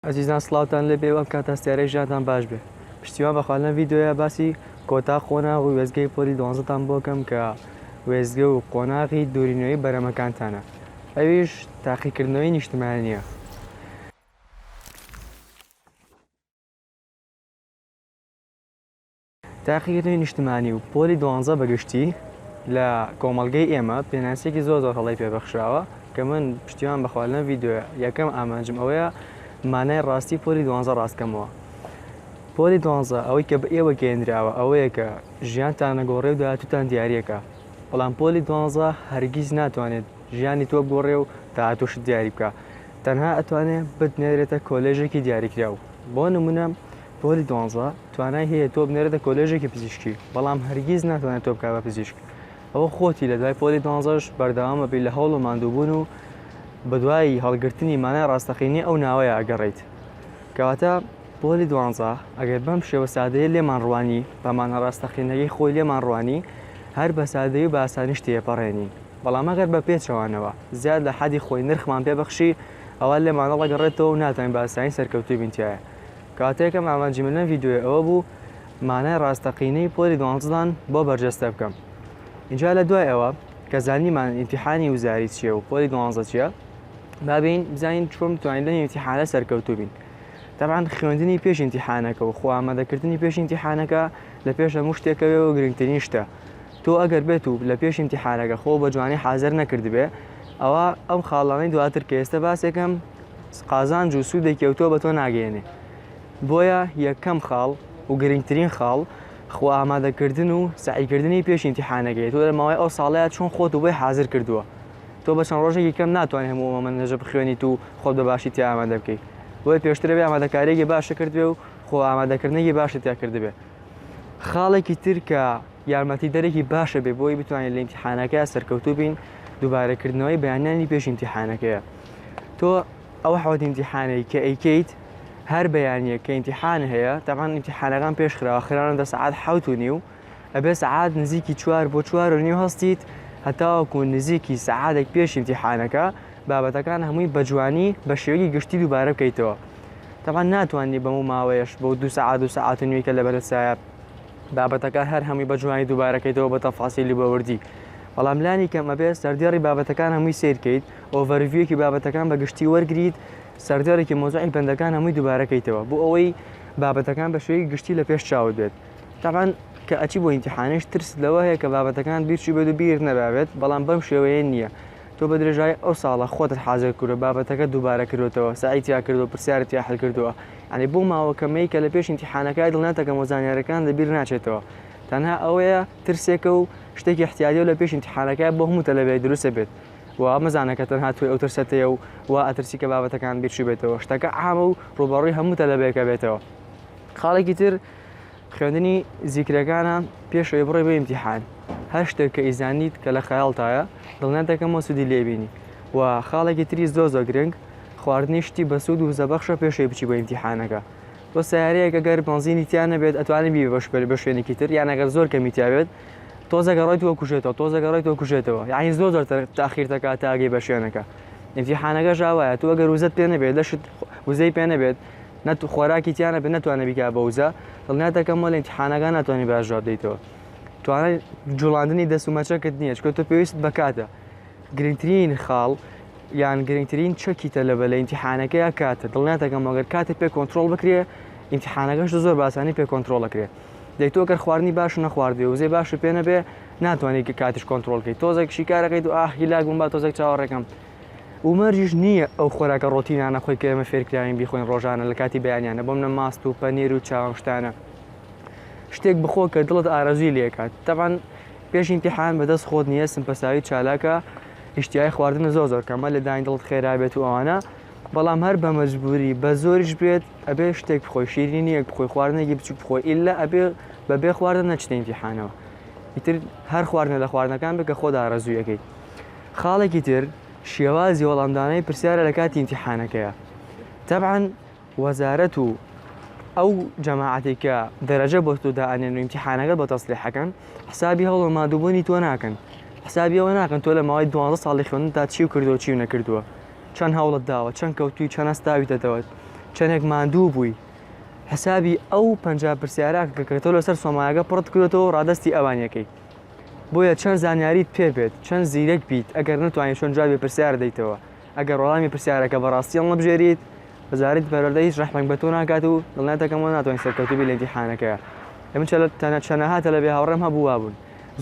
ئەزیزان سڵاوتان لێبێ و ئەم کات هەستیارەی ژیانتان باش بێ پشتیوان بەخوا لەم ڤیدیۆیە باسی کۆتا قۆناغ و وێستگەی پۆلی دوانزەتان بۆ کەم کە وێستگە و قۆناغی دووری نوێی بەرەمەکانتانە ئەویش تاقیکردنەوەی نیشتمانیە. تاقیکردنەوەی نیشتمانی و پۆلی دوانزە بە گشتی لە کۆمەڵگەی ئێمە پێناسەیەکی زۆر زۆر هەڵەی پێبەخشراوە کە من پشتیوان بەخوا لەم ڤیددیۆە یەکەم ئامانجم ئەوەیە مانای ڕاستی پۆلی دوانزە ڕاستکەمەوە پۆلی دوانزە ئەوەی کە بە ئێوە گەێنراوە ئەوەیە کە ژیانتان نەگۆڕێ و داهاتوتان دیارەکە بەڵام پۆلی دوانزە هەرگیز ناتوانێت ژیانی تۆ بگۆڕێ و داهاتوشت دیاری بکە تەنها ئەتوانێت بتنێرێتە کۆلێژێکی دیاریکراو بۆ نمونە پۆلی دوانزە توانای هەیە تۆ بنێرێتە کۆلێژێکی پزیشکی بەڵام هەرگیز ناتوانێت تۆ بکات بە پزیشک ئەوە خۆتی لە دوای پۆلی دوانزەش بەردەوامە بی لە هەوڵ و ماندووبوون و بەدوای هەڵگرتنی مانای ڕاستەقینی ئەو ناوەیە ئەگەڕیت کەواتە پۆلی دوانزە ئەگەر بەم شێوە سادەیە لێمان ڕوانی بەمانە ڕاستەقینەکەی خۆی لێمان ڕوانی هەر بە سادەی و باسانیش تێپەڕێنین بەڵام ئەگەر بە پێچەوانەوە زیاد لە حەدی خۆی نرخمان پێبەخشی ئەوە لێمانەڵەگەڕێتەوە و ناتوانین باسانی سەرکەوتوو بینتیایە کاتێکم ئامانجی من لەم ڤیدیۆیە ئەوە بوو مانای ڕاستەقینەی پۆلی دوانزدان بۆ بەرجەستە بکەم اینجا لە دوای ئەوە کە زانیمان ئیمتیحانی وزاری چییە و پۆلی دوانزە چییە بابین بزانین چۆن بتوانین لەم ئیمتیحانە سەرکەوتوو بین تەبان خوێندنی پێش ئیمتیحانەکە و خۆ ئامادەکردنی پێش ئیمتیحانەکە لە پێش هەموو شتێکەوێ و گرنگترین شتە تۆ ئەگەر بێت و لە پێش ئیمتیحانەکە خۆ بە جوانی حازر نەکردبێ ئەوە ئەم خاڵانەی دواتر کە ئێستا باسێکم قازانج و سوودێکی ئەوتۆ بە تۆ ناگەیەنێ بۆیە یەکەم خاڵ و گرنگترین خاڵ خۆ ئامادەکردن و سعیکردنی پێش ئینتیحانەکەی تۆ لە ماوەی ئەو ساڵەیە چۆن خۆت و بۆی حاضر کردووە تۆ بە چەند ڕۆژێکی کەم ناتوانێت هەموو ئەمە نەژە بخوێنیت و خۆت بە باشی تیا ئامادە بکەیت بۆی پێشترەوەی ئامادەکارێکی باشە کردوێ و خۆ ئامادەکردنێکی باشە تیا کردبێ خاڵێکی تر کە یارمەتی دەرێکی باشە بێ بۆی بتوانین لە ئینتیحانەکە سەرکەوتوو بین دووبارەکردنەوەی بەیانانی پێش ئینتیحانەکەیە تۆ ئەو حەوت ئیمتیحانەی کە ئەیکەیت هەر بەیانیە کە ئیمتیحان هەیە تاوان ئیمتیحانەکان پێش خراوە خراوە دە سعات حوت و نیو ئەبێ سعات نزیکی چوار بۆ چوار و نیو هەستیت هەتاوەکو نزیکی سعادێک پێش ئیمتیحانەکە بابەتەکان هەمووی بە جوانی بە شێوەی گشتی دووبارە بکەیتەوە تاوان ناتوانانی بەم و ماوەیەش بۆ دو سعات و سعات و نوێکە لە بەرەسایە بابەتەکان هەر هەمووی بە جوانی دووبارەکەیتەوە بە تەفاسیلی بەوردی بەڵام لانی کەمە بێ سەردێڕی بابەتەکان هەمووی سیرکەیت ئۆڤەرڤیوێکی بابەتەکان بە گشتی وەرگریت، سەرجارێکی مەوزوعی بەندەکان هەمووی دووبارە کەیتەوە بۆ ئەوەی بابەتەکان بە شێوەیەکی گشتی لە پێش چاوت بێت. تەبعەن کە ئەچی بۆ ئیمتیحانیش ترست لەوە هەیە کە بابەتەکانت بیرچووبێت و بیرت نەرابێت، بەڵام بەم شێوەیە نییە. تۆ بە درێژایی ئەو ساڵە خۆتت حازر کردووە، بابەتەکەت دووبارە کردۆتەوە، سەعی تیا کردووە، پرسیارت تیا حل کردووە. یانی بەو ماوە کەمەی کە لە پێش ئیمتیحانەکە دڵنیات دەکەم و زانیارییەکانت لە بیر ناچێتەوە. تەنها ئەوەیە ترسێکە و شتێکی ئیحتیاطییە و لە پێش ئیمتیحانەکە بۆ هەموو تەلەبەیەک دروستە بێت. وە مەزانە کە تەنها تۆی ئەو ترسەت هەیە و وا ئەترسی کە بابەتەکان بیرچوو بێتەوە شتەکە عامە و ڕووبەڕووی هەموو تەلەبەیەکە بێتەوە خاڵێکی تر خوێندنی زیکرەکانە پێش ئەوی بڕێ بە ئیمتیحان هەر شتێک کە ئیزانیت کە لە خەیاڵتایە دڵنیات دەکەمەوە سوودی لێبینی و خاڵێکی تری زۆ زۆ گرنگ خواردنی شتی بەسوود و زەبەخشە پێشەوەی بچی بە ئیمتیحانەکە بۆ سیارەیەک گەر بەنزینی تیا نەبێت ئەتوانانی بی بە شوێنێکی تر یان ئەگەر زۆر کەمیتیاوێت تۆزێک ئەڕۆی تۆ کوژێتەوە تۆزێک ئەڕۆی تۆ کوژێتەوە یعنی زۆر زۆر تاخیر دەکات تا ئەگەی بە شوێنەکە ئیمتیحانەکەش ئاوایە تۆ ئەگەر وزەت پێ نەبێت لەشت وزەی پێ نەبێت نەت خۆراکی تیانە بێت نەتوانە بیکا بە وزە دڵنیاتەکەم وە لە ئیمتیحانەکە ناتوانانی باش جواب دەیتەوە توانای جوڵاندنی دەست و مەچەکەت نییە چکە تۆ پێویست بەکاتە گرنگترین خاڵ یان گرنگترین چەکی تەلەبە لە ئیمتیحانەکە یا کاتە دڵنیاتەکەم وەگەر کاتێک پێ کۆنتترۆل بکرێ ئیمتیحانەکەش زۆر باسانی پێ کۆنتترۆلەکرێت دەی تۆ گەر خواردنی باش نەخواردوێ وزەی باشی پێ نەبێ ناتوانانی کاتیش کۆنتترۆلکەی تۆزێک شیکارەکەی دو ئاهی لا گوم با تۆزێک چاوەڕێکم ومەرجیش نییە ئەو خۆراکە ڕۆتینانە خۆی کە ئێمە فێرکراوین بیخۆین ڕۆژانە لە کاتی بەیانیانە بۆم نە ماست و پەنیر و چاوم شتانە شتێک بخۆ کە دڵت ئارەزوی لێکات تەبان پێش امتحان بەدەست خۆت نییە سمپەساوی چالاکە هشتیای خواردن زۆر زۆر کەمە لە داین دڵت خێرا بێت و ئەوانە بەڵام هەر بە مەجبوری بە زۆریش بێت ئەبێ شتێک بخۆی شیرینیەک بخۆی خواردنێکی بچوک بخۆی ئللا ئەبێ بە بێ خواردن نەچنە ئیمتیحانەوە ئیتر هەر خواردنە لە خواردنەکان بکە خۆدا ڕزویەکەی خاڵێکی تر شێوازی وەڵامدانەی پرسیارە لە کاتی ئیمتیحانەکەیە تەبعاان وەزارەت و ئەو جەماعاتی کە دەرەجە بۆ تۆ دائەنێن و ئیمتیحانەکە بە تەسلیحەکەن حسابی هەوڵ مادووبوونی تۆ ناکەن حسابیەوە ناکەن تۆ لە ماوەی دوانزە ساڵی خوێن تا چی و کردو چی و نەکردووە چەند هەوڵت داوە چەند کەوتوی چەند هەستاویتە دەوەت چەندێک ماندوو بووی حسابی ئەو پنج پرسیارە کە تۆ لەسەر سۆمایەکە پڕت کردێتەوە ڕادستی ئەوانەکەی بۆیە چەند زانیاریت پێ بێت چەند زیرەک بیت ئەگەر نتوانین چۆن جوابێ پرسیار دەیتەوە ئەگەر وەڵامی پرسیارەکە بەڕاستی هەڵ نەبژێریت وەزارەتی پەروەردە هیچ ڕەحمێک بە تۆ ناکات و دڵنیاتەکەمەوە ناتوانین سەرکەوتوبی لە ئیمتیحانەکە ئەمن چەلە تەنە چەنەها تەلەبەی هاوڕێم هەبوو وابوون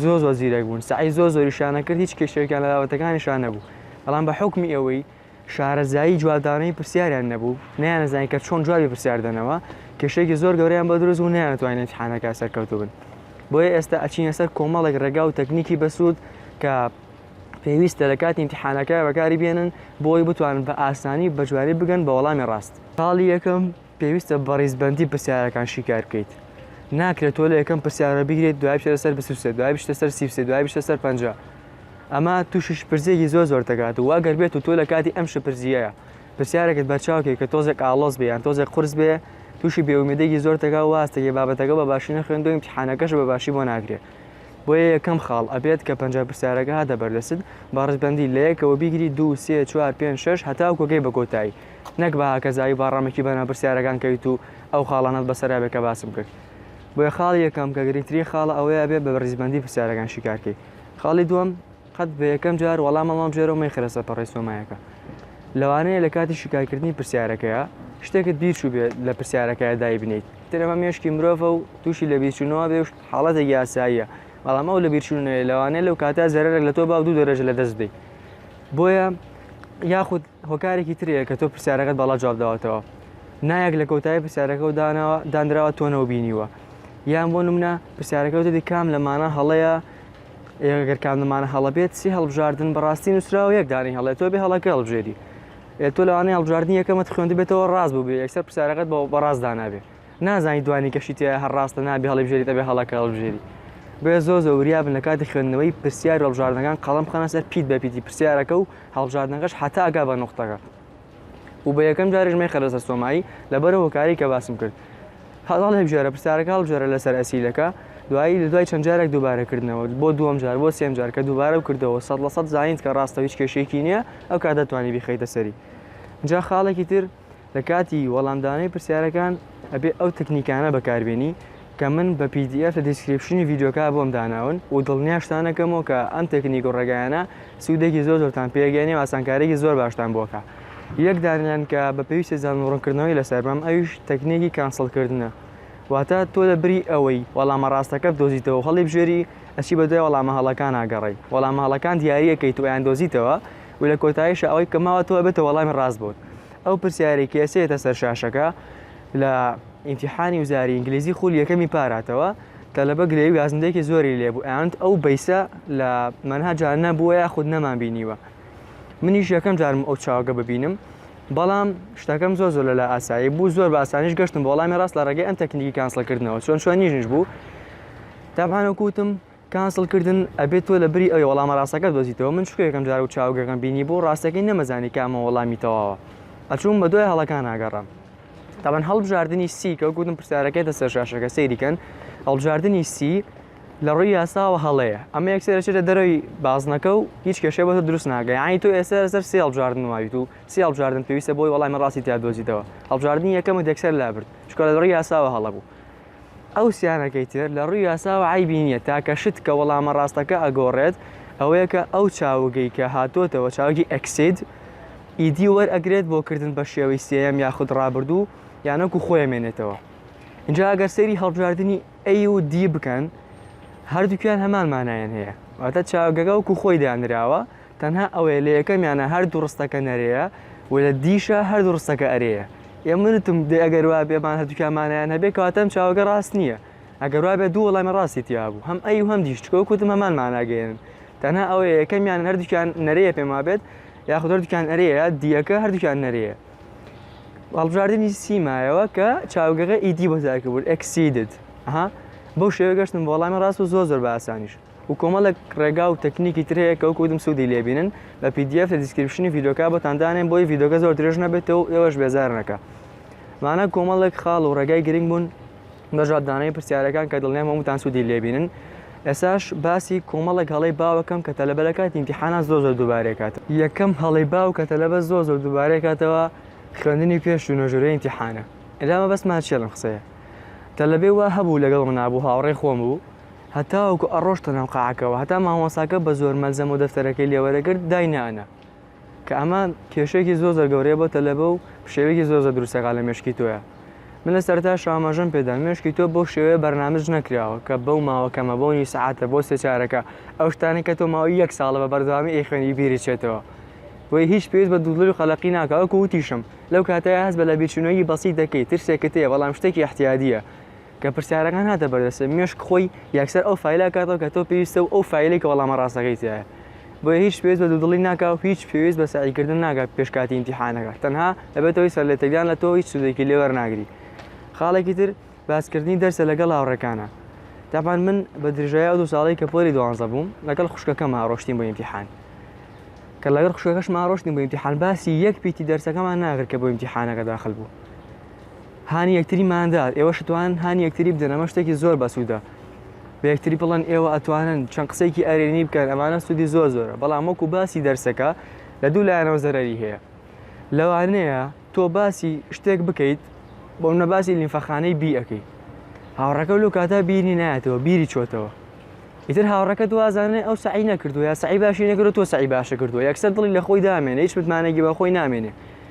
زۆر زۆر زیرەک بوون سەعی زۆر زۆریشیانە کرد هیچ کێشەیەکیان لە بابەتەکانیشان نەبوو بەڵام بە حوکمی ئەوەی شارەزایی جوابدانەوەی پرسیاریان نەبوو، نەیانزانی کە چۆن جوابی پرسیار دەنەوە، کێشەیەکی زۆر گەورەیان بۆ دروست بوو، نەیانتوانی لە ئیمتیحانەکە سەرکەوتوو بن. بۆیە ئێستا ئەچینە سەر کۆمەڵێک ڕێگا و تەکنیکی بەسوود کە پێویستە لە کاتی ئیمتیحانەکە بەکاری بێنن بۆ ئەوەی بتوانن بە ئاسانی و بەجوانی بگەن بە وەڵامی ڕاست. خاڵی یەکەم، پێویستە بە ڕیزبەندی پرسیارەکان شیکار بکەیت ناکرێت تۆ لە یەکەم پرسیارە بگرێت دوای بچێتە سەر بسوسێت دوای بچتە سەر سیفسێ دوای بچتە سەر پەنج ئەمە تووشیش پرسێکی زۆر زۆر دەکات و واگەر بێت و تۆ لە کاتی ئەم شپرزیەیە پرسیارێکت بەرچاوکێک کە تۆزێک ئاڵۆز بێ یان تۆزێک قرس بێ تووشی بێومێدێکی زۆر دەگا واستەگە بابەتەکە بە باشی نەخوێندو امتحانەکەش بە باشی بۆ ناگرێت بۆیە یەکەم خاڵ ئەبێت کە پەنج پرسیارەکە هاتە بەردەست بە ڕزبندی لە یەکەوە بیگری دو سێ چوار پێنج شش هەتاو کۆگەی بە کۆتایی نەک بە هاکەزایی با ڕەمەکی بەناو پرسیارەکان کەویت و ئەو خاڵانەت بەسەرا بێ کە باسم کرد بۆیە خاڵی یەکەم کە گرنگترین خاڵە ئەوەیە ئەبێ بە ڕیزبەندی پرسیارەکان شیکار کەی خاڵی دووەم قەت بە یەکەم جار وەڵام هەڵمام ژێرەوە مەیخرە سەر پەڕەی سۆمایەکە لەوانەیە لە کاتی شیکارکردنی پرسیارەکەیە شتێکت بیرچوو بێ لە پرسیارەکەیە دایبنیت ترەمە مێشکی مرۆڤە و تووشی لە بیرچوونەوە بێ حاڵەتێک یاساییە بەڵام ئەو لە بیرچوونەیە لەوانەیە لەو کاتە زەرەرێک لە تۆ با دوو دەرەجە لە دەست بدەیت بۆیە یاخود هۆکارێکی ترێ کە تۆ پرسیارەکەت باڵا جواب داوەتەوە نایەک لە کۆتایی پرسیارەکە و داناوە دانراوە تۆنەوە بینیوە یان بۆ نمونە پرسیارەکە وتێتی کام لەمانە هەڵەیە ئێگەر کام لەمانە هەڵە بێت سی هەڵبژاردن بەڕاستی نووسرا و یەک دانی هەڵێت تۆ بێ هەڵەکە هەڵبژێری تۆ لەوانەیە هەڵبژاردننی یەکەمەت خوێندبێتەوە ڕاست بوو بێ یەکسەر پرسیارەکەت بە بەڕاست دانابێت نازانی دوانی کەشی تیا هەر ڕاستە نابێ هەڵیبژێریت ئەبێ هەڵەکە هەڵبژێری بۆیە زۆر زۆر وریا بن لە کاتی خوێندنەوەی پرسیار هەڵبژاردنەکان قەڵەم بخەنە سەر پیت بە پیتی پرسیارەکە و هەڵبژاردنەکەش حتا ئەگا بە نوختەکە و بە یەکەم جاریش مەیخە لەسەر سۆمایی لەبەرە هۆکاری کە باسم کرد هەڵ هەڵبژێرە پرسیارەکە هەڵبژێرە لەسەر ئەسیلەکە دوایی لە دوای چەند جارێک دووبارەکردنەوە بۆ دووەم جار بۆ سێم جار کە دووبارە و کردەوە سەد لە سەد زانیت کە ڕاستە هیچ کێشەیەکی نییە ئەو کاتە توانی بیخەیتە سەری جا خاڵێکی تر لە کاتی وەڵامدانەوەی پرسیارەکان ئەبێ ئەو تەکنیکانە بەکاربێنی کە من بە پی دی ئێف لە دیسکریپشنی ڤیدیۆکە بۆم داناون و دڵنیاشتان ئەکەمەوە کە ئەم تەکنیک و ڕێگایانە سوودێکی زۆر زۆرتان پێ ئەگەیەنێ و ئاسانکاریی زۆر باشتان بۆ ئەکا یەک دانەیان کە بە پێویستە زانین ڕوونکردنەوەی لەسەر بەم ئەویش تەکنیکی کانسڵکردنە واتە تۆ لە بری ئەوەی وەڵامە ڕاستەکە بدۆزیتەوە و هەڵیبژێری ئەچی بەدوای وەڵامە هەڵەکانا گەڕێی وەڵامە هەڵەکان دیاری ئەکەیت و ئەیاندۆزیتەوە و لە کۆتاییشا ئەوەی کە ماوەتەوە ئەبێتە وەڵامی ڕاستبۆن ئەو پرسیارەی کە ئێسێتە سەر شاشەکە لە ئینتیحانی وزاری ئینگلیزی خولی یەکەمی پاراتەوە تەلەبە گلەی و گازندەیەکی زۆری لێبوو ئەیانت ئەو بەیسە لە مەنهەجا نەبووە یاخود نەمان بینیوە منیش یەکەم جارم ئەو چاوگە ببینم بەڵام شتەکەم زۆر زۆر لەلا ئاسایی بوو زۆر بە ئاسانیش گەشتم بۆ وەڵامی ڕاست لە ڕێگەی ئەم تەکنیکی کانسڵکردنەوە چۆن چۆنیش بوو تابانە کوتم کانسڵ کردن ئەبێ تۆ لە بری ئەوێ وەڵامە ڕاستەکە بدۆزیتەوە من شکۆ یەکەم جارە و چاوگێکم بینی بۆ ڕاستەکەی نەمەزانی کامە وەڵامی تەواوە ئەچووم بە دوای هەڵەکان ئاگەڕام تاوان هەڵبژاردننی سی کە گوتم پرسیارەکەێتە سەر شاشەکە سەیریکەن هەڵبژاردننی سی لە ڕووی یاساوە هەڵەیە ئەمە یەکسێرەچێتە دەرەوەی بازنەکە و هیچ کێشێ بە دروست ناگە ینی تۆ ئێستا سەر سی هەڵبژاردن وایت و سی هەڵبژاردن پێویستە بۆی وەڵامی ڕاستی تیا دۆزیتەوە هەڵبژاردننی یەکەمە دەکسەر لابرد شکۆ لە ڕووی یاساوە هەڵە بوو ئەو سیانەکەی تر لە ڕووی یاساوە عەیبی نییە، تاکە شت کە وەڵامە ڕاستەکە ئەگۆڕێت ئەوەیە کە ئەو چاوگەی کە هاتۆتەوە چاوگی ئەکسید ئیدی وەرئەگرێت بۆ کردن بە شێوەی سێیەم یاخود ڕابردوو یان وەکو خۆی ئەمێنێتەوە ئینجا ئەگەر سەیری هەڵبژاردنی A و D بکەن هەردووکیان هەمان مانایان هەیە واتە چاوگەکە وەکو خۆی دانراوە تەنها ئەوەیە لە یەکەمیانە هەردوو ڕستەکە نەرێیە و لە دیشە هەردوو ڕستەکە ئەرێیە ئێ منتم دێ ئەگەر وا بێ مان هەردووکیان مانایان هەبێ کەواتە ئەم چاوەگە ڕاست نییە ئەگەر وا بێ دوو وەڵامی ڕاستی تیا بوو هەم ئەی و هەم دیش چکۆ کوتم هەمان ماناگەیەنن تەنها ئەوەیە یەکەمیان هەردووکیان نەرێیە پێم وا بێت یاخود هەردووکیان ئەرێیە دیەکە هەردووکیان نەرێیە هەڵبژاردنی سیمایەوە کە چاوگەغە ئیدی بۆ زیادکردبوون exceeded ها بەو شێوە گەشتن بۆ وەڵامی ڕاست و زۆر زۆر بە ئاسانیش و کۆمەڵێک ڕێگا و تەکنیکی تر هەیە کە وەکو وتم سوودی لێ بینن بە پی دی ئێف لە دیسکریپشنی ڤیدیۆکە بۆتان دانێن بۆی ڤیدیۆکە زۆر درێژ نەبێتەوە و ئێوەش بێزار نەکە مانە کۆمەڵێک خاڵ و ڕێگای گرنگ بوون بە جوابدانەوەی پرسیارەکان کە دڵنیام هەمووتان سوودی لێ بینن ئێساش باسی کۆمەڵێک هەڵەی باوەکەم کە تەلەبە لە کاتی ئیمتیحانان زۆر زۆر دووبارەکات یەکەم هەڵەی باو کە تەلەبە زۆر زۆر دووبارەکاتەوە خوێندنی پێش و نۆژورەی ئیمتیحانە ئێرامە بەسمان چێڵم قسەیە تەلەبێ وا هەبوو لەگەڵ منابوو هاوڕێ خۆم بوو هەتاوەکو ئەڕۆشتە ناو قاعەکەوە هەتا مامۆساکە بە زۆر مەلزەم و دەفتەرەکەی لێوەرەگرت دای نانە کە ئەمە کێشێکی زۆر زۆر گەورەیە بۆ تەلەبە و شێوەیەکی زۆر زۆر دروستەکە لە مێشکی تۆیە من لە سەرتا شامەژەم پێدا مێشکی تۆ بۆ شێوەیە بەرنامج نەکراوە کە بەو ماوەکەمە بۆ نی سعاتە بۆ سێچارەکە ئەو شتانی کە تۆ ماوەی یەک ساڵە بە بەردەوامی ئەی خوێنی بیریچێتەوە وی هیچ پێویست بە دوودڵی و قەلەقی ناکە وەکو وتیشم لەو کاتەیە هەست بە لە بیرچوونەوەی بەسیت دەکەی ترسێکت هەیە بەڵام شتێکی احتیادیە کە پرسیارەکان هاتە بەردەستت مێشک خۆی یەکسەر ئەو فایلە ئەکاتەوە کە تۆ پێویستە و ئەو فایلەی کە وەڵامە ڕاستەکەی تیایە بۆیە هیچ پێویست بە دوودڵی ناکا و هیچ پێویست بە سەعیکردن ناکا پێش کاتی ئیمتیحانەکە تەنها دەبێتەوەی سەرلێتێکدان لە تۆ هیچ سوودێکی لێ وەرناگری خاڵێکی تر باسکردنی دەرسە لەگەڵ هاوڕێکانە تاپان من بە درژای ئەو دوو ساڵی کە پۆلی دوانزە بووم لەگەڵ خوشکەکەمە ڕۆشتین بۆ ئیمتیحان کە لەگەڵ خوشکەکەشمان ڕۆشتین بۆ ئیمتیحان باسی یەک پیتی دەرسەکەمان ناگر کە بۆ ئیمتیحانەکە داخل بوو هانی یەکتری مان دات ئێوەش توان هانی یەکتری بدەن ئەمە شتێکی زۆر بەسوودە بە یەکتری بڵن ئێوە ئەتوانن چەند قسێکی ئەرێنی بکەن ئەمانە سوودی زۆر زۆرە بەڵام وەکو باسی دەرسەکە لە دوو لایەنەوە زەرری هەیە لەوانەیە تۆ باسی شتێک بکەیت بۆ منە باسی لیمفەخانەی بی ئەەکەی هاوڕەکە لەو کاتا بیری نایەتەوە بیری چۆتەوە ئیتر هاوڕەکە دوازانێ ئەو سعی نەکردو یا سعی باشی نەکرێت تۆ سعی باشە کردو یەکسەر دڵی لە خۆی دامێنێ هیچ متمانەگی بە خۆی نامێنێ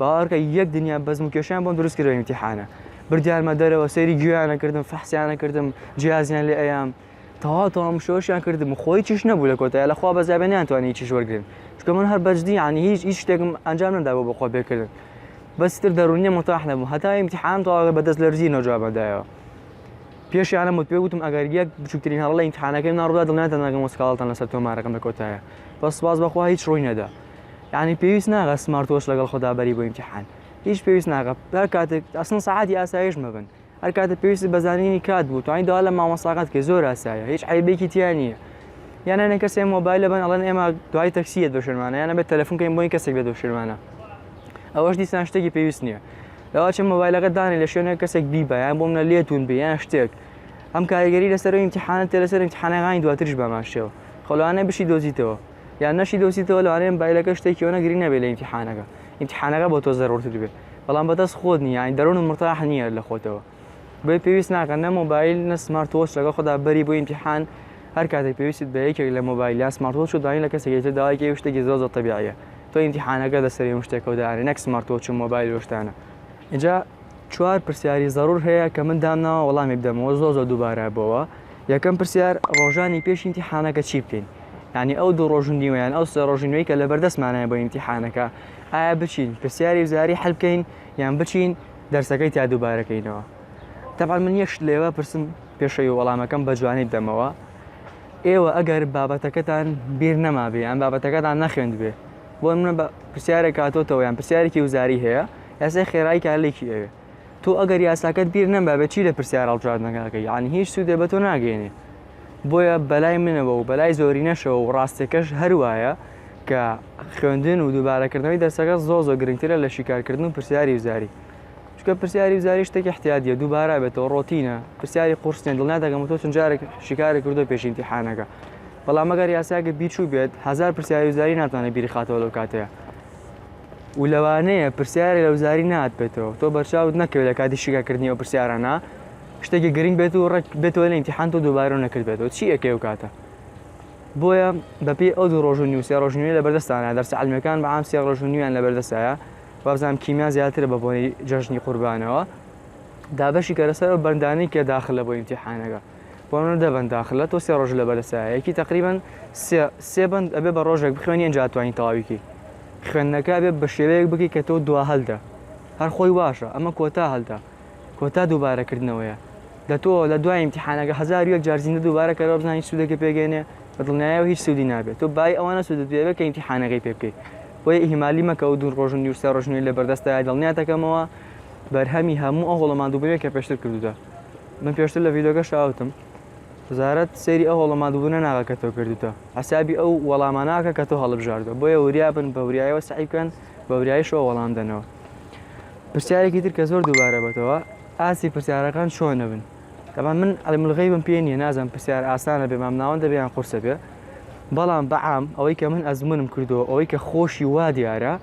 باوەڕکە یەک دنیا بەزم و کێشیان بۆم دروست کرد ئیمتیحانە بردیانمە دەرەوە سەیری گوێیانە کردم فەحسیانە کردم جیازیان لێ ئەیام تەواو تەواو مشۆشیان کردم خۆی چیش نەبوو لە کۆتای لە خوا بەزیابێ نیانتوانی چیش وەرگن چکە من هەر بەجدی ینی هیچ هیچ شتێکم ئەنجام نەدا بۆ بەخۆ بێکردن بەستر دەرونیە متاح نەبوو هەتا ئیمتیحان تەواو بەدەست لەرزی نەجوابەدایەوە پێشیانە مت پێ وتم ئەگەر یەک بچووترین هەڵە لە ئیمتحانەکەی ناڕدا دڵنیاتان ناگەم وسکاڵتان لەسەر تۆمارەکەم لە کۆتایە بەس سپاس بەخوا هیچ ڕووی نەدا یانی پێویست ناگە سمارت وۆچ لەگەڵ خۆدا بەری بۆ ئیمتیحان هیچ پێویست ناگە هەر کاتێک ئەسڵەن سەعاتی ئاسایش مەبن هەر کاتێک پێویستی بە زانینی کات بوو توانیت داوا لە مامۆستاکەت کە زۆر ئاسایە هیچ عیبێکی تیا نییە یان هەنێک کەسێ مۆبایلە بن ئەڵەن ئێمە دوای تەکسی یەت بە شوێنمانە یانە بێت تەلەفۆن کەین بۆی کەسێک بێت بە شوێنمانە ئەوەش دیسان شتێکی پێویست نییە لەواچە مۆبایلەکە دانێ لە شوێنە کەسێک بیبە یان بۆ منە لێتون بێ یان شتێک ئەم کاریگەری لەسەر ئیمتحانە تێ لەسەر ئیمتحانەکانی دواترش بەماشەوە خەڵوانە بشی دۆزیتەوە یان نەشی دۆزیتەوە لەوانەیە مبایلەکە شتێکی ئەوەنە گرنگ نەبێت لە ئیمتیحانەکە ئیمتیحانەکە بۆ تۆ زەرورتر بێت بەڵام بەدەست خۆت نییە یانی دەرون و مرتاح نییە لە خۆتەوە بۆی پێویست ناکەن نە مۆبایل نە سمارت وۆچ لەگەڵ خۆدا بەری بۆ ئیمتیحان هەر کاتێک پێویستت بە یەکێک لە مۆبایل یا سمارت وۆچ و دانی لە کەسێکی تر داوای کێوی شتێکی زۆر زۆر تەبیعیە تۆ ئیمتیحانەکە لەسەر هەموو شتێکەوە دانێ نەک سمارت وۆچ و مۆبایل و شتانە ئینجا چوار پرسیاری زەرور هەیە کە من دامناوە وەڵامی بدەمەوە زۆر زۆر دووبارە بۆوە یەکەم پرسیار ڕۆژانی پێش ئیمتیحانەکە چی بکەین یانی ئەو دوو ڕۆژ و نیوەیان ئەو سێ ڕۆژی نوێی کە لە بەردەستمانایە بۆ ئیمتیحانەکە ئایا بچین پرسیاری وزاری حل بکەین یان بچین دەرسەکەی تا دووبارەکەینەوە تەبان من یەکشت لێوە پرسم پێشەوی وەڵامەکەم بە جوانی بدەمەوە ئێوە ئەگەر بابەتەکەتان بیر نەمابێ یان بابەتەکەتان نەخوێند بێ بۆ منە بە پرسیارێک کاتۆتەوە یان پرسیارێکی وزاری هەیە یاسای خێرایی کارلێکی ئەوێ تۆ ئەگەر یاساکەت بیر نەما بە چی لە پرسیار هەڵبژاردنەکە ئەکەی یعنی هیچ سوودێ بە تۆ ناگەێنێ بۆیە بەلای منەوە و بەلای زۆری نەشەوە و ڕاستەکەش هەروایە کە خوێندن و دووبارەکردنەوەی دەرسەکە زۆ زۆ گرنگترە لە شیکارکردن و پرسیاری وزاری چکە پرسیاری وزاری شتێک احتیادیە دووبارە بێتەوە ڕۆتینە پرسیاری قورسنێ دڵنا دەگەم تۆ چون جارێک شیکاری کردو پێشینتیحانەکە بەڵام مەگەر یاساگە بیچوو بێت هزار پرسیاری وزاری ناتوانێت بیرخاتەوە لەو کاتەیە و لەوانەیە پرسیارێک لە وزاری نات بێتەوە تۆ بەرچاوت نەکەوێت لە کاتی شیکاکردنی ئەو پرسیارانە شتێکی گرنگ بێت و ڕێک بێتەوە لە ئیمتیحان تۆ دووبارە نەکردبێتەوە چی ئەکەی و کاتە بۆیە بەپێی ئەو دوو ڕۆژنی و سێ ڕۆژنوێ لە بەردەستانە دەرسە علمەکان بە عام سێ ڕۆژنویان لە بەردەستایە وابزانام کیمیا زیاترە بە بۆنی جەژنی قوربانەوە دابەشی کەرەسەر و بەندانی کە داخلە بۆ ئیمتیحانەکە بۆ منە دە بەندە ئاخر لە تۆ سێ ڕۆژ لە بەرەسە یەکی تەقریبەن سێ سێ بەند ئەبێ بە ڕۆژێک بخوێنی ئەنجا توانی تەواویکی خوێندنەکە بێ بە شێوەیەک بکی کە تۆ دوا هەلدا هەر خۆی واشە ئەمە کۆتا هەلدا کۆتا دووبارەکردنەوەیە لە تۆ لە دوای امتحانەکە هزار یەک جار زیندە دووبارە کەەوە بزانانی سوودەکە پێگەێنێ بە دڵنیایەوە هیچ سوودی نابێت تۆ بای ئەوانە سوودت پێوێت کە امتحانەکەی پێ بکەیت بۆی ئیهمالی مەکە و دوو ڕۆژن نیوسێ ڕژنی لە بەردەستای دڵنیاتەکەمەوە بەرهەمی هەموو ئەو هۆڵەمان دووبەوێت کە پێشتر کردودا من پێشتر لە ڤیدۆگەشە ئەوتم وزارەت سەیری ئەو هەڵە مادبوونە ناغە کە تۆ کردوتە حسابی ئەو وەڵاماناکە کە تۆ هەڵبژاردە بۆیە وریا بن بە وریایەوە سعی بکەن بە وریایشەوە وەڵام دەنەوە پرسیارێکی تر کە زۆر دووبارە بەتەوە ئاسی پرسیارەکان چۆنە بن دەبا من ئەلملغی بم پێ نیە نازم پرسیار ئاسانە بێ مام ناوەند دەبیان قورسە بێ بەڵام بەعام ئەوەی کە من ئەزمونم کردو ئەوەی کە خۆشی وا دیارە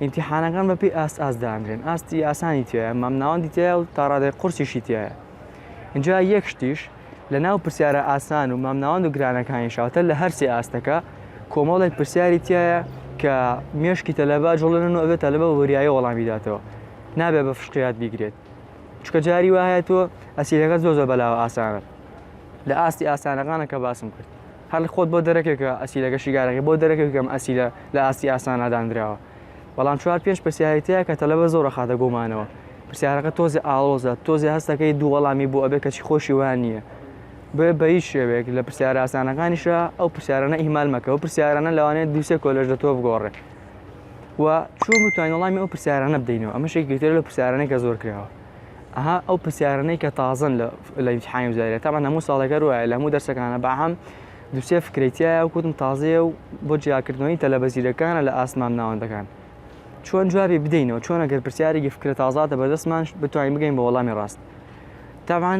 ئیمتیحانەکان بەپێی ئاست ئاست دانرێن ئاستی ئاسانی تایە مامناوەندی تایە و تاڕادای قورسیشی تایە اینجا یەک شتیش لە ناو پرسیارە ئاسان و مامناوەند و گرانەکانی شاوتە لە هەرسی ئاستەکە کۆمەڵێک پرسیاری تایە کە مێشکی تەلەبا جوڵێنن و ئەوێت تەلەبە وەریایی وەڵامی داتەوە نابێ بە فشقیات بیگرێت چکە جاری وایە تۆ ئەسیرەکە زۆ زۆ بەلاوە ئاسانە لە ئاستی ئاسانەکانە کە باسم کرد هەر خۆت بۆ دەرەکە کە ئەسیلەکە شیکارەکەی بۆ دەرەکە کە ئەم ئەسیلە لە ئاستی ئاسانا داندراوە بەڵام چوار پێنج پرسیاری تیایە کە تەلەبە زۆر ئەخاتە گۆمانەوە پرسیارەکە تۆزێ ئاڵۆزە تۆزێ هەستەکەی دوو وەڵامی بۆ ئەبێ کەچی خۆشی وایان نیە بۆیە بە هیچ شێوەیەک لە پرسیارە ئاسانەکانیشا ئەو پرسیارانە ئیهمال مەکە ئەو پرسیارانە لەوانەیە دوو سێ کۆلێژ لە تۆ بگۆڕێ و چۆن بتوانین وەڵامی ئەو پرسیارانە بدەینەوە ئەمەش یەکێکە لەو پرسیارانەی کە زۆر کراوە. ئەها ئەو پرسیارانەی کە تازن لە لە امتحانی وزارەت تامان هەموو ساڵێکە روایە لە هەموو دەرسەکانە بەعام دوسێ فکرەیتیایە و کوتم تازەیە و بۆ جیاکردنەوەی تەلەبە زیرەکانە لە ئاسمان ناوەندەکان چۆن جوابی بدەینەوە چۆن ئەگەر پرسیارێکی فکرە تازاتە بەدەستمان بتوانین بگەین بە وەڵامی ڕاست تامان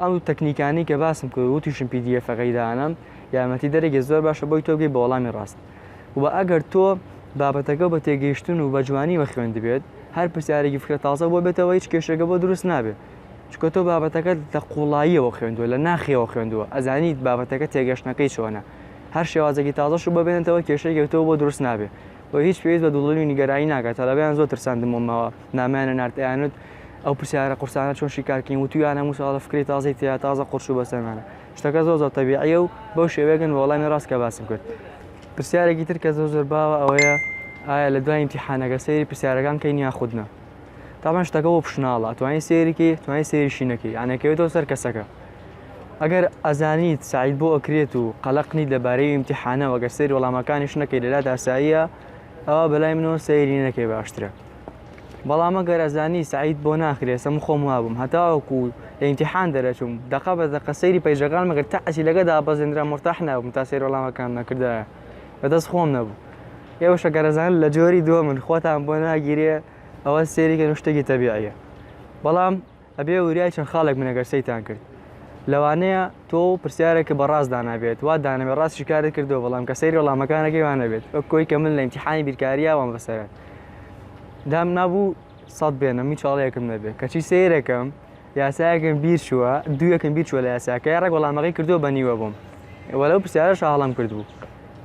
ئەو تەکنیکانی کە باسم کرد وتیشم پی دی ئەفەکەی دانم یارمەتی دەرێکی زۆر باشە بۆی تۆگەی بە وەڵامی ڕاست وە ئەگەر تۆ بابەتەکە بە تێگەیشتن و بە جوانیوە خوێندبێت هەر پرسیارێکی فکرە تازە بۆ بێتەوە هیچ کێشێکە بۆ دروست نابێت چکە تۆ بابەتەکەت لە قوڵاییەوە خوێندووە لە ناخیەوە خوێندووە ئەزانیت بابەتەکە تێگەشتنەکەی چۆنە هەر شێوازێکی تازەش و ببێنێتەوە کێشێکی تۆ بۆ دروست نابێت و هیچ پێویست بە دوڵڵی و نیگەرانی ناکات تەلەبەیان زۆر ترساندمەوە نامیانە نارد ئەیانوت ئەو پرسیارە قورسانە چۆن شیکارکەین وتویانە موساڵە فکرەی تازەی تیا تازە قورس و بەسەرمانە شتەکە زۆر زۆر تەبیعیە و بەو شێوەیەگەن بە وەڵامی ڕاست کە باسم کرد پرسیارێکی تر کە زۆر زۆر باوە ئەوەیە ئایا لە دوای امتحانەکە سەیری پرسیارەکان کەین یا خودنا تامان شتەکە بۆ پشناڵە توانین سێریکی توانین سێریشی نەکەی یانەکەوێتەوە سەر کەسەکە ئەگەر ئەزانیت سعید بۆ ئەکرێت و قەلقنی لەبارەی امتحانەوە گەر سێری وەڵامەکانیش نەکەی لەلا داساییە ئەوە بەلای منەوە سەیری نەکەی باشترە بەڵام ئەگەر ئەزانی سەعید بۆ ناخرێ سە من خۆم وابووم هەتاوەکو لە ئیمتیحان دەرەچووم دەقە بە دەقە سەیری پەیجەکان مەگەر تا ئەسیلەکە دابەزێنرا مورتاح نابووم تا سەیر وەڵامەکانم نەکردایە بەدەست خۆم نەبوو ئێوەش ئەگەر ئەزانن لە جۆری دووەمن خۆتان بۆ ناگیرێ ئەوە سەیریکەن و شتێکی تەبیعیە بەڵام ئەبێ وریای چەند خاڵێک بن ئەگەر سەیتان کرد لەوانەیە تۆ و پرسیارێک بە ڕاست دانابێت وا دانەبێت ڕاست شکارت کردو بەڵام کە سەیری وەڵامەکانەکەی وانەبێت وەک کۆی کە من لە ئیمتیحانی بیرکاریە وام بەسەرە دام نابوو سەد بێنم هیچ چاڵەیەکم نەبێت کەچی سەیرەکەم یاسایەکەم بیر چووە دوویەکەم بیر چووە لە یاساکە ڕێک وەڵامەکەی کردو بە نیوە بووم وەلەو پرسیارە شاڵم کردبوو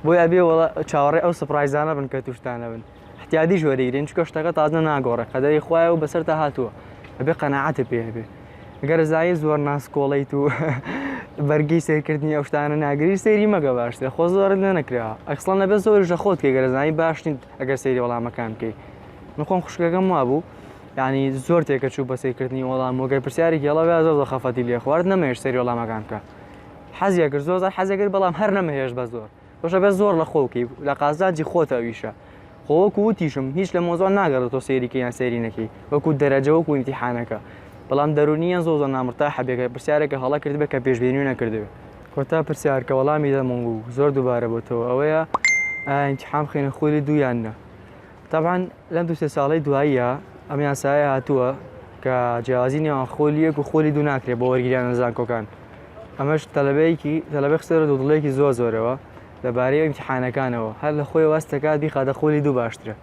بۆی ئەبێ چاوەڕێ ئەو سپڕایزانە بن کە توشتانە بن احتیادیش وەریگرین چکە شتەکە تازە ناگۆڕێ قەدەری خوایە و بەسەرتا هاتووە ئەبێ قەنەعاتە پێبێ گەر زای زۆر ناسکۆڵیت و بەرگی سێکردنی ئەو شتانە ناگری سەیری مەگە باشترە خۆ زۆرت لە نەکرا ئەکسڵان لەبێ زۆر ژە خۆت کە گەرزانی باش نیت ئەگەر سەیری وەڵامەکان بکەیت نخۆم خوشکەکەم وابوو ینی زۆر تێکە چوو بە سیرکردنی وەڵام وگەر پرسیاری گەڵە زۆر زۆر خەفەتی لێ خوارد نەمەێش سەری وەڵامەکان بکە حەزیەکرد زۆر زار حەزەکرد بەڵام هەر نەمەهێش بە زۆر باشە بەس زۆر لەخۆو کەی لە قازانجی خۆتە ئەویشە خۆ وەکو وتیشم هیچ لە مۆزان ناگەڕێت تۆ سێریکە یان سێری نەکەی وەکو دەرەجە وەکو ئیمتیحانەکە بەڵام دەرونیان زۆ زۆ نامرتا حەبێکە پرسیارێکە هەڵە کردبێ کە پێشبێنی نەکردوێ کۆتا پرسیار کە وەڵامی دەمەوە و زۆر دووبارە بۆتەوە ئەوەیە ئینتحام خێنە خولی دوویان نە تاان لەم دو سێ ساڵی دواییە ئەم یاسایە هاتووە کە جیازی نێوان خۆلیەک و خۆلی دوو ناکرێت بۆ وەرگیرانە زانکۆکان ئەمەش تەلەبەیەکی تەلەبەی خستە بەرەو دوودڵەیەکی زۆر زۆرەوە لەبارەی ئیمتیحانەکانەوە هەر لە خۆی واز دەکات بیخاتە قۆلی دوو باشترە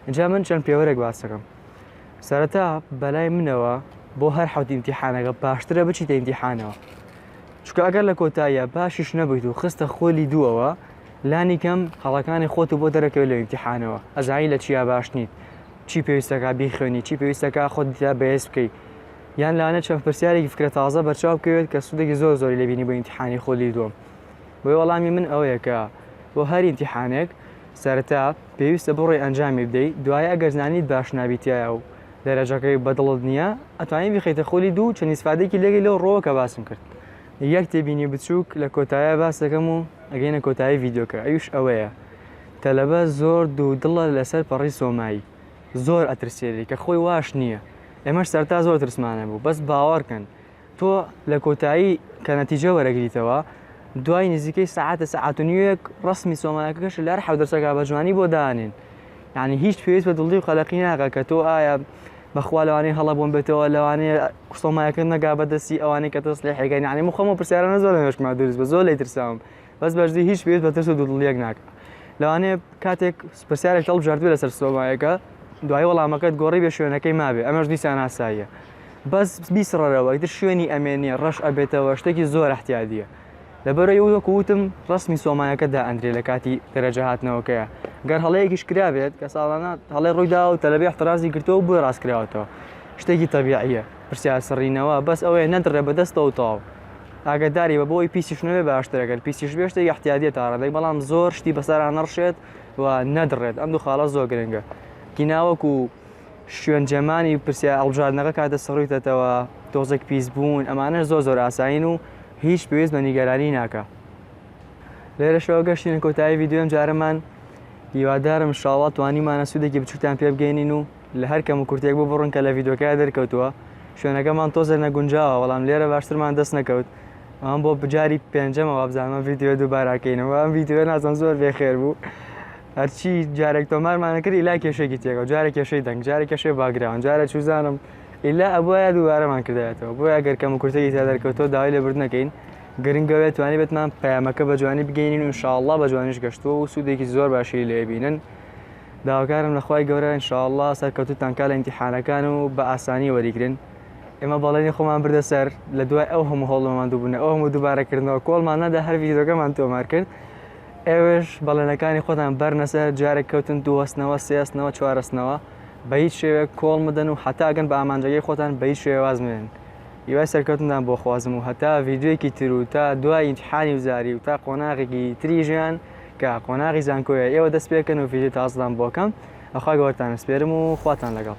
اینجا من چەند پێوەرێک باس دەکەم سەرەتا بەلای منەوە بۆ هەر حەوت ئیمتیحانەکە باشترە بچیتە ئیمتیحانەوە چونکە ئەگەر لە کۆتاییە باشیش نەبیت و خستە خۆلی دووەوە لانی کەم هەڵەکانی خۆت و بۆ دەرەکەوێت لە ئیمتیحانەوە ئەزانی لە چیا باش نیت چی پێویستەکە بیخوێنی چی پێویستەکە خۆت دیتا بەهێز بکەیت یان لەوانەیە چەند پرسیارێکی فکرە تازە بەرچاو بکەوێت کە سوودێکی زۆر زۆری لێ بینی بۆ ئیمتیحانی خولی دووەم بۆیە وەڵامی من ئەوەیە کە بۆ هەر ئیمتیحانێک سەرەتا پێویستە بڕۆی ئەنجامی بدەیت دوایە ئەگەر زانیت باش نابیتایە و دەرەجەکەی بەدڵت نییە ئەتوانی بخیتە خولی دوو چەند ئیسفادێکی لێگەی لەو ڕۆوە کە باسم کرد یەک تێبینی بچووک لە کۆتایە باس دەکەم و ئەگەینە کۆتایی ڤیدیۆکە ئەویش ئەوەیە تەلەبە زۆر دوو دڵە لەسەر پەڕی سۆمایی زۆر ئەترسێلی کە خۆی واش نییە ئێمەش سەرتا زۆر ترسمانە بوو بەس باوەڕکەن تۆ لە کۆتایی کە نەتیجە وەرەگریتەوە دوای نزیکەی سعاتە سعات و نیوێک ڕسمی سۆمایەکەش لەر حەودەرسەکە بە جوانی بۆ دانێن یعنی هیچ پێویست بە دڵی و قەلەقی ناقە کە تۆ ئایا بەخوا لەوانەیە هەڵە بۆم بێتەوە لەوانەیە سۆمایەکە نەگا بەدەستی ئەوانەی کە تۆ سلێحەکەن یعنی مخۆمە پرسیارانە زۆر لەمێشکما دروست بە زۆر لێ ترساوم بەس بەجدی هیچ پێویست بە ترس و دوودڵیەک ناکا لەوانەیە کاتێک پرسیارێک هەڵبژاردبێ لەسەر سۆمایەکە دوای وەڵامەکەت گۆڕی بێ شوێنەکەی مابێ ئەمەش دیسان ئاساییە بەس بیسڕەرەوە ئیتر شوێنی ئەمێنێ ڕەش ئەبێتەوە شتێکی زۆر احتیادیە لەبەرەوەی وەکو وتم ڕسمی سۆمایەکە دائەندرێ لە کاتی دەرەجە هاتنەوەکەیە گەر هەڵەیەکیش کرابێت کە ساڵانە هەڵێ ڕوویدا و تەلەبی احترازی گرتەوە بۆی ڕاست کراوەتەوە شتێکی تەبیعیە پرسیار سڕینەوە بەس ئەوەیە نەدڕێ بەدەستەوە تەواو ئاگەداری بە بۆ ئەوەی پیسیش نەبێ باشترە گەر پیسیش بێ شتێک احتیادیە تا ڕادەی بەڵام زۆر شتی بەسەرا نەڕشێت و نەدڕێت ئەم دوو خاڵە زۆر گرنگە گیناوەکو شوێن جەمانی پرسیار ئەڵبژاردنەکە کاتە سڕیتەتەوە تۆزێک پیس بوون ئەمانە زۆر زۆر ئاسایین و هیچ پێویست بە نیگەرانی ناکە لێرەشەوە گەشتینە کۆتایی ویددیوم جارەمان هیوادارم شاڵات توانیمانە سوودێکی بچوتان پێ بگەینین و لە هەر کەم و کورتیەک ببڕن کە لە ڤیدیۆکەیا دەرکەوتووە شوێنەکەمان تۆزێ نەگونجاوە بەڵام لێرە باشترمان دەست نەکەوت ئەم بۆ بجاری پێنجەمە وابزانمە ڤیدیۆ دووباراکەینەوە ئەم ڤیدیۆ نازم زۆر بێ خێر بوو هەرچی جارێک تۆمارمانە کردی لا کێشێکی تێکەوە جارە کێشەی دەنگ جارە کێشەی باگراون جارە چوزانم ئیلا ئەبواە دووارەمان کردایەتەوە بۆ ئەگەر کەم کورتەی تا دەرکەوتەوە داوای لە بردنەکەین گرنگەوێ توانی بێتمان پەیامەکە بە جوانی بگەینین و شاءله بە جوانیش گەشتووە و سوودێکی زۆر باشی لێبینن داواکارم لە خوای گەورە ان شاء اللە سەرکەوتوتان کا لە ئیمتیحانەکان و بە ئاسانی وەریگرن ئێمە بەڵێنی خۆمان بردە سەر لە دوای ئەو هەموو هەوڵ ماماندوو بونە ئەو هەموو دوبارە کردنەوە کۆڵمان نەدا هەر ڤیدیۆکەمان تۆمار کرد ئێوەش بەڵێنەکانی خۆتان بەرنە سەر جارێک کەوتن دووەستنەوە سێستنەوە چوارەستنەوە بە هیچ شێوەیەک کۆڵ مەدەن و هەتا گەن بە ئامانجەکەی خۆتان بە هیچ شێوەیە واز مەێن هیوای سەرکەوتنتان بۆ خوازم و هەتا ڤیدیۆیەکی تر و تا دوای ئیمتیحانی وزاری و تا قۆناغێکی تری ژیان کە قۆناغی زانکۆیە ئێوە دەست پێکەن و ڤیدیو تازدان بۆکەم ئەخوا گەوەرتان سپێرم و خواتان لەگەڵ